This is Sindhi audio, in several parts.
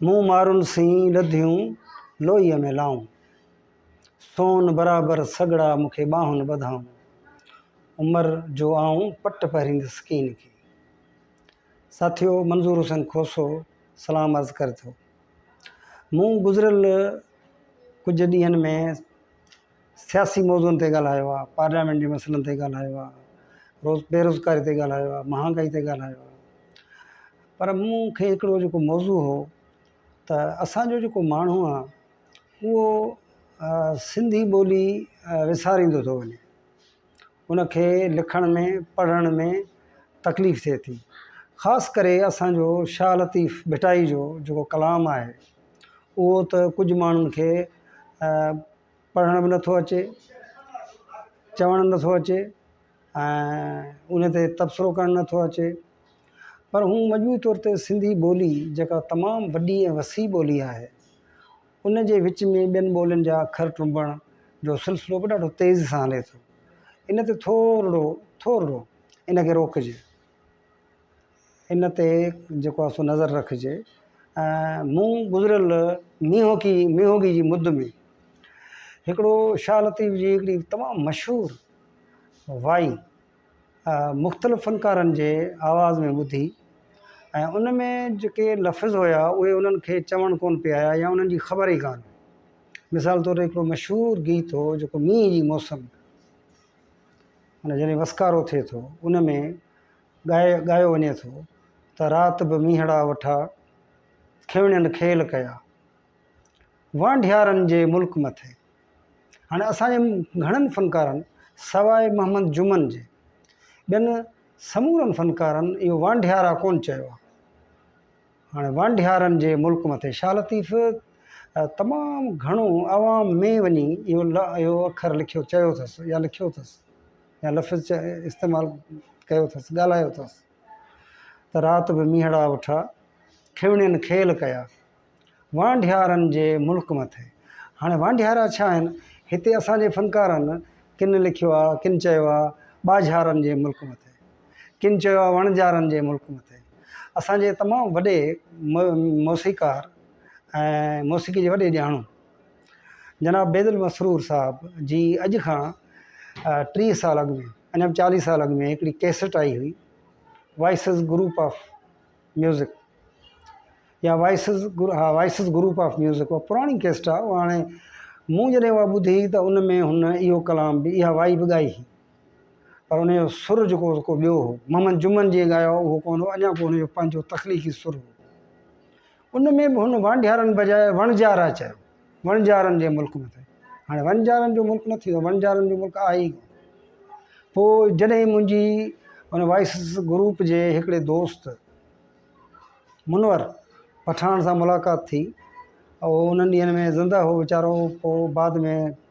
مون مارون سين لڌيون لوئيء ۾ لائون، سون برابر سڳڙا مون کي ٻانهن ٻڌائون، عمر جو آئون پٽ پهريندس ڪين کي. ساٿيو منظور حسين کوسو سلام عرض ڪري ٿو. مون گذريل ڪجهه ڏينهن ۾ سياسي موضوعن تي ڳالهايو آهي، پارليامينٽ جي مسئلن تي ڳالهايو آهي، روز بيروزگاري تي ڳالهايو آهي، مهانگائي تي ڳالهايو آهي پر مون کي هڪڙو جيڪو موضوع هو ته اسان جو جيڪو ماڻهو آهي اهو سنڌي ٻولي وساريندو ٿو وڃي ان کي لکڻ ۾ پڙهڻ ۾ تڪليف ٿئي ٿي خاص ڪري اسانجو شاھ لطيف ڀٽائي جو جيڪو ڪلام آهي اهو ته ڪجهه ماڻهن کي پڙهڻ به نٿو اچي چوڻ نٿو اچي ۽ ان تي تبصرو ڪرڻ نٿو اچي پر هو مجموعي طور تي سنڌي ٻولي جيڪا تمام وڏي ۽ وسيع ٻولي آهي ان جي وچ ۾ ٻين ٻولين جا اکر ٽنبڻ جو سلسلو به ڏاڍو تيز سان هلي ٿو. ان تي ٿورڙو ٿورڙو ان کي روڪجي. ان تي جيڪو آهي سو نظر رکجي ۽ مون گذريل مينهوڪي مينهوڳي جي مد ۾ هڪڙو شاهه لطيف جي هڪڙي تمام مشهور وائي مختلف فنڪارن جي آواز ۾ ٻڌي ۽ ان ۾ جيڪي لفظ هيا اهي انهن کي چوڻ ڪونه پيا آيا يا انهن جي خبر ئي ڪانه هئي مثال طور هڪڙو مشهور گيت هو جيڪو مينهن جي موسم ۾ معنيٰ جڏهن وسڪارو ٿئي ٿو ان ۾ ڳائي ڳايو وڃي ٿو ته رات به مينهڙا وٺا کيوڻين کيل ڪيا وانڍيارن جي ملڪ مٿي هاڻي اسان جي گهڻن فنڪارن سواء محمد جمن جي ٻين سمورن فنڪارن اهو وانڍيارا ڪونه چيو آهي. هاڻي وانڍيارن جي ملڪ مٿي شاهه لطيف تمام گهڻو عوام ۾ وڃي اهو لا اهو اکر لکيو چيو اٿس يا لکيو اٿس يا لفظ چي استعمال ڪيو اٿس ڳالهايو اٿس ته رات به مينهڙا وٺا کيوڻين کيل ڪيا. وانڍيارن جي ملڪ مٿي هاڻي وانڍيارا ڇا آهن؟ هتي اسان جي فنڪارن ڪن لکيو آ، ڪن چيو آ ٻاجهارن جي ملڪ مٿي، ڪن چيو آ وڻجارن جي ملڪ مٿي. اسان جي تمام وڏي موسيقار ۽ موسيقي جي وڏي ڄاڻو جناب بيض المسرور صاحب جي اڄ کان ٽيهه سال اڳ ۾ اڃا به چاليهه سال اڳ ۾ هڪڙي ڪيسٽ آئي هئي وائسز گروپ آف ميوزڪ يا وائسز گرو ها وائسز گروپ آف ميوزڪ اها پراڻي ڪيسٽ آهي اها هاڻي مون جڏهن اها ٻڌي ته ان ۾ هن اهو ڪلام به اها وائي به ڳائي هئي پر ان جو سر جيڪو هو ڪو ٻيو هو محمد جمن جيئن ڳايو اهو ڪونه هو اڃا ڪونه جو پنهنجو تخليقي سر هو ان ۾ به هن وانڍيارن بجاء وڻجارا چيو وڻجارن جي ملڪ نه ٿئي. هاڻي وڻجارن جو ملڪ نه ٿيندو، وڻجارن جو ملڪ آهي ئي ڪونه. پوء جڏهن منهنجي ان وائيس گروپ جي هڪڙي دوست منور پٺاڻ سان ملاقات ٿي، هو انهن ڏينهن ۾ زندهه هو ويچارو، پوء بعد ۾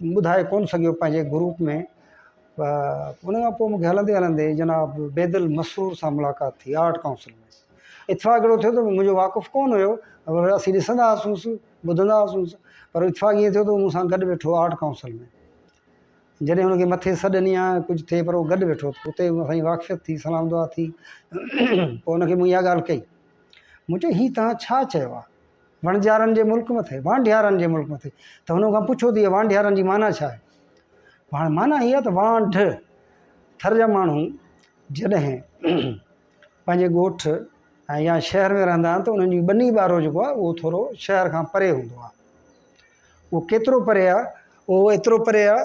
ٻڌائي ڪونه سگهيو پنهنجي گروپ ۾ ان کان پوء مونکي هلندي هلندي جناب بيد المسرور سان ملاقات ٿي آرٽ ڪائونسل ۾ اتفاق اهڙو ٿيو ته منهنجو واقف ڪونه هيو پر اسين ڏسندا هئاسونس ٻڌندا هئاسونس پر اتفاق ائين ٿيو ته مون سان گڏ ويٺو آرٽ ڪائونسل ۾ جڏهن ان کي مٿي سڏ ڏني آهي ڪجهه ٿئي پر هو گڏ ويٺو اتي مون سان واقفيت ٿي سلام دعا ٿي پوء ان کي مون اها ڳالهه ڪئي مون چيو هي تها ڇا چيو آهي وڻجارن جي ملڪ مٿي، وانڍيارن جي ملڪ مٿي، ته هن کان پڇيو ته هيء وانڍيارن جي معنيٰ ڇا آهي؟ هاڻي معنيٰ هيء آهي ته وانڍ ٿر جا ماڻهو جڏهن پنهنجي ڳوٺ ۽ يا شهر ۾ رهندا آهن ته انهن جي ٻني ٻارو جيڪو آهي اهو ٿورو شهر کان پري هوندو آهي. اهو ڪيترو پري آهي؟ اهو ايترو پري آهي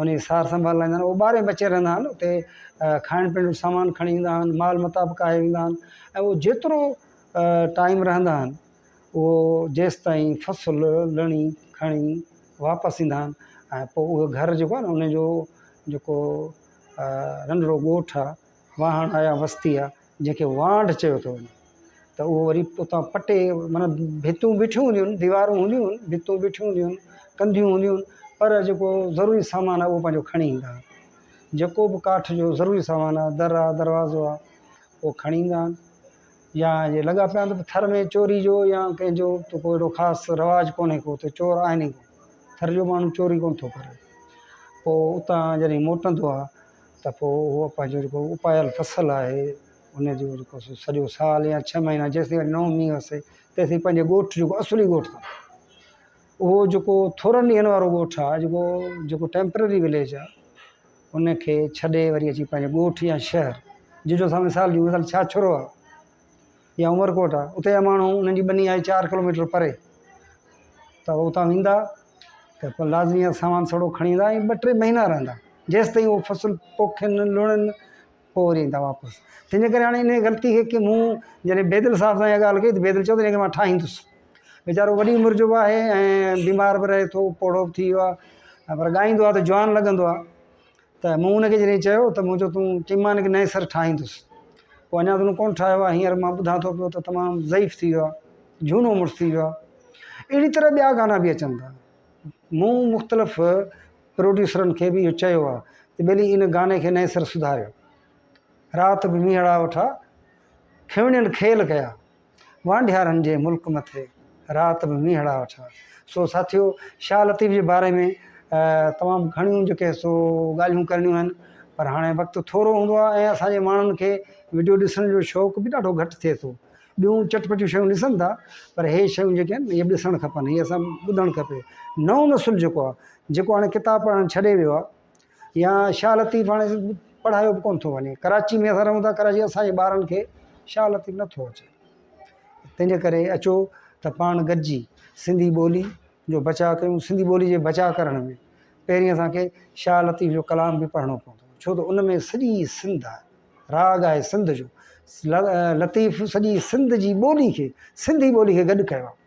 ان جي سار سنڀال لائيندا آهن ٻاري ۾ اچي رهندا آهن اتي کائڻ پيئڻ جو سامان کڻي ايندا آهن مال متا به ڪاهي ويندا آهن ۽ هو جيترو ٽائيم رهندا آهن هو جيستائين فصل لڻي کڻي واپس ايندا آهن ۽ پوء اهو گهر جيڪو آهي نه ان جو جيڪو رنڍڙو ڳوٺ آهي واهڻ آيا وستي آ جنهن کي وانڍ چيو ٿو وڃي ته اهو وري اتان پٽي معنيٰ ڀتيون بيٺيون هونديون آهن ديوارون هونديون آهن ڀتيون بيٺيون هونديون آهن ڪنڌيون هونديون آهن پر جيڪو ضروري سامان آ اهو پنهنجو کڻي ايندا آهن جيڪو به ڪاٺ جو ضروري سامان آ در آ دروازو آ اهو کڻي ايندا آهن يا جي لڳا پيا هوندو ٿر ۾ چوري جو يا ڪنهن جو ته ڪو اهڙو خاص رواج ڪونهي ڪو ته چور آهن ئي ڪو ٿر جو ماڻهو چوري ڪونه ٿو ڪري پوء اتان جڏهن موٽندو آ ته پوء اهو پنهنجو جيڪو اپايل فصل آهي ان جو جيڪو سو سڄو سال يا ڇهه مهينا جيسيتائين نو مينهن وسي تيسين پنهنجي ڳوٺ جيڪو اصلي ڳوٺ اٿن اهو جيڪو ٿورن ڏينهن وارو ڳوٺ آهي جيڪو جيڪو ٽيمپرري وليج آهي ان کي ڇڏي وري اچي پنهنجو ڳوٺ يا شهر جنهن جو مثال ڏيون ٿا ڇاڇرو آهي يا عمرڪوٽ آ اتي جا ماڻهو انهن جي ٻني آهي چار ڪلوميٽر پري ته اتان ويندا ته پوء لازمي آ سامان سڙو کڻي ايندا ۽ ٻه ٽي مهينا رهندا جيستائين هو فصل پوکين لوڻين پوء وري ايندا واپس تنهنجي ڪري هاڻي انهيء غلطي کي ڪي مون جڏهن بيدل صاحب سان اها ڳالهه ڪئي ته بيدل چيو ته هنکي مان ٺاهيندس ويچارو وڏي عمر جو به آهي ۽ بيمار به رهي ٿو پوڙهو به ٿي ويو آ پر ڳائيندو آ ته جوان لڳندو آ ته مون ان کي جڏهن چيو ته مون چيو تون چئين مان ان کي نئين سر ٺاهيندس پوء اڃا تون ڪونه ٺاهيو آهي هينئر مان ٻڌان ٿو پيو ته تمام ضعيف ٿي ويو آهي جهونو مڙس ٿي ويو آهي اهڙي طرح ٻيا گانا به اچن ٿا مون مختلف پروڊيوسرن کي به اهو چيو آهي ته ٻيلي ان گاني کي نئين سر سڌاريو رات به مينهڙا وٺا کيوڻين کيل ڪيا وانڍيارن جي ملڪ مٿي رات به مينهڙا وٺا. سو ساٿيو شاهه لطيف جي باري ۾ تمام گهڻيون جيڪي سو ڳالهيون ڪرڻيون آهن پر هاڻي وقت ٿورو هوندو آهي ۽ اسان جي ماڻهن کي وڊيو ڏسڻ جو شوق به ڏاڍو گهٽ ٿئي ٿو. ٻيون چٽ پٽيون شيون ڏسن ٿا پر هي شيون جيڪي آهن هي به ڏسڻ کپن هي اسان ٻڌڻ کپي. نئون نسل جيڪو آهي جيڪو هاڻي ڪتاب پڙهڻ ڇڏي ويو آهي يا شاهه لطيف هاڻي پڙهايو به ڪونه ٿو وڃي ڪراچي ۾ اسان رهون ٿا ڪراچي اسانجي ٻارن کي شاهه لطيف نٿو اچي تنهنجي ڪري اچو ته پاڻ گڏجي سنڌي ٻولي جو بچاء ڪيون سنڌي ٻولي جي بچاء ڪرڻ ۾ پهرين اسانکي شاهه لطيف جو ڪلام به پڙهڻو پوندو ڇو ته ان ۾ سڄي سنڌ آهي راڳ آهي سنڌ جو لطيف سڄي سنڌ جي ٻولي کي سنڌي ٻولي کي گڏ ڪيو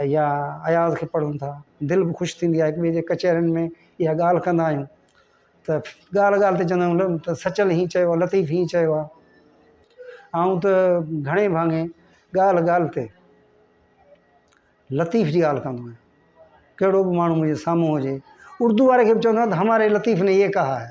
يا اياز کي پڙهون ٿا دل به خوش ٿيندي آهي هڪ ٻئي جي ڪچهرين ۾ اها ڳالهه ڪندا آهيون ته ڳالهه ڳالهه تي چوندا آهيون ته سچل هيئن چيو آهي لطيف هيئن چيو آهي آئون ته گهڻي ڀاڱي ڳالهه ڳالهه تي لطيف جي ڳالهه ڪندو آهيان ڪهڙو به ماڻهو منهنجي سامهون هجي اردو واري کي به چوندا آهيون ته هماري لطيف ني يه ڪها هي